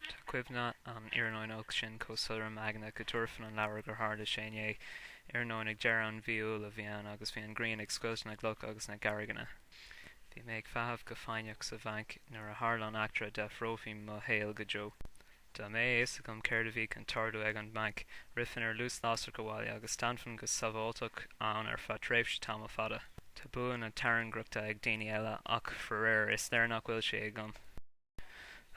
Tá cuimhne an iarnóin sin chomh soiléir im aigne go dtabharfainn an leabhar gur tharla sé inné. Iarnóin ag deireadh an mhí Iúil a bhí ann agus bhí an ghrian ag scoilteadh na gcloch agus na gcarrigeanna. Bhí mé ag feitheamh go foighneach sa bhanc nuair a tharla an eachtra a d'athródh mo shaol go deo. Dá mbeadh a fhios agam céard a bhí chun tarlú ag an mbanc, rithfinn ar luas lasrach abhaile agus d'fhanfainn go sábháilteach ann ar feadh tréimhse tamall fada. Tá bua na tairngreachta ag daoine eile ach, faraor, is léir nach bhfuil sí agam.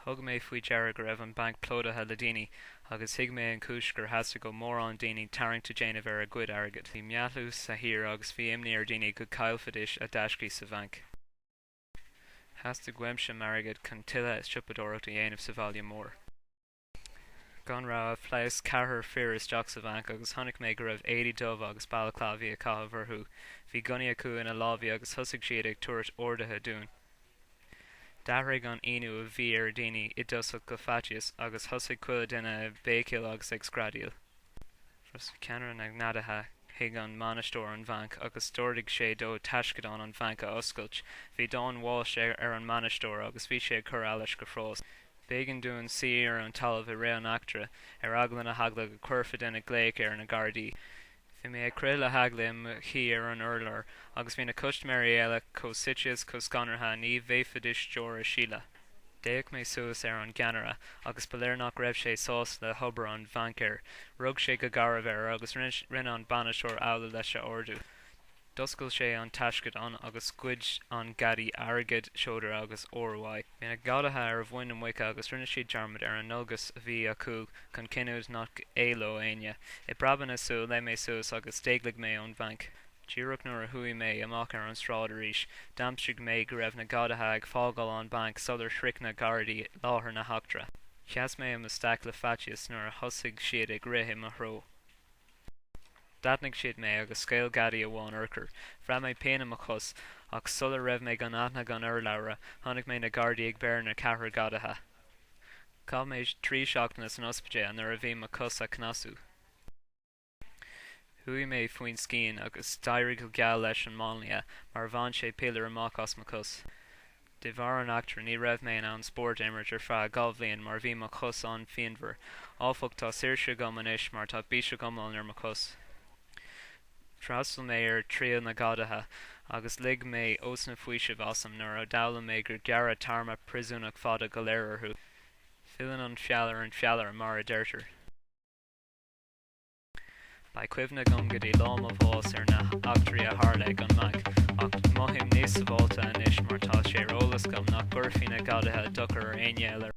Thug mé faoi deara go raibh an banc plódaithe le daoine, agus thuig mé an chúis gur theastaigh ó mórán daoine tarraingt a dhéanamh ar a gcuid airgid. Bhí meathlú sa thír agus bhí imní ar dhaoine go gcaillfidís a dtaiscí sa bhanc. Theastaigh uaimse m'airgead chun tuilleadh siopadóireacht a dhéanamh sa bhaile mór. gan rabhadh, phléasc ceathrar fir isteach sa bhanc agus chonaic mé go raibh éadaí dubha agus balaclávaí á gcaitheamh orthu. Bhí gunnaí acu ina lámha agus thosaigh siad ag tabhairt orduithe dúinn. D'athraigh an ionadh a bhí ar dhaoine i dtosach go faitíos agus thosaigh chuile dhuine ag béicíl agus ag screadaíl. Thosnaigh ceannaire na ngadaithe chuig an mbainisteoir an bhainc agus d'ordaigh sé dó taisceadán an bhainc a oscailt. Bhí dath an bháis ar an mbainisteoir agus bhí sé ag cur allais go fras. B'éigean dúinn suí ar an talamh i rith an eachtra, ar eagla na heagla go cuirfeadh duine glaoch ar na gardaí. Bhí mé ag crith le heagla i mo shuí ar an urlár agus bhí na custaiméirí eile chomh suite is chomh scanraithe ní bhféadfaidis deora a shileadh. D'fhéach mé suas ar an gceannaire agus ba léir nach raibh sé sásta le hobair an bhaincéara. Rug sé go garbh air agus rinne an bainisteoir amhlaidh leis a ordú. D'oscail sé an taisceadán agus ghoid an gadaí airgead, seodra agus ór uaidh. Bhí na gadaithe ar a mhuin na muice agus rinne siad dearmad ar an ndualgas a bhí acu chun cinntiú nach éalódh éinne. I bpreabadh na súl, léim mé suas agus d'éalaigh mé ón bhainc. Díreach nuair a chuaigh mé amach ar an sráid arís, d'aimsigh mé go raibh na gadaithe ag fágáil an banc sular shroich na gardaí láthair na heachtra. Sheas mé i mo staic le faitíos nuair a thosaigh siad ag rith i mo threo. D'aithnigh siad mé agus scaoil gadaí amháin urchar. Bhraith mé pian i mo chos, ach sula raibh mé gan aithne gan urlabhra, chonaic mé na gardaí ag breith ar na ceathrar gadaithe. Chaith mé trí seachtaine san ospidéal nuair a bhí mo chos á cneasú. Chuaigh mé faoin scian agus d'éirigh go geal leis an máinlia mar bhain sé piléar amach as mo chos. De bharr an eachtra ní raibh mé in ann spórt a imirt ar feadh dhá bhliain mar bhí mo chos an-phianmhar. Áfach tá saoirse agam anois mar tá biseach iomlán ar mo chos. D'fhreastal mé ar triail na gadaithe agus lig mé osna faoisimh asam nuair a d'fhoghlaim mé gur gearradh téarma príosúnachta fada go leor orthu. Filleann an feall ar an feallaire mar a deirtear. Beidh cuimhne agam go dtí lá mo bháis ar na heachtraí a tharla ag an mbanc, ach mothaím níos sábháilte anois mar tá sé ar eolas agam nach gcuirfidh na gadaithe dochar ar aon duine eile ar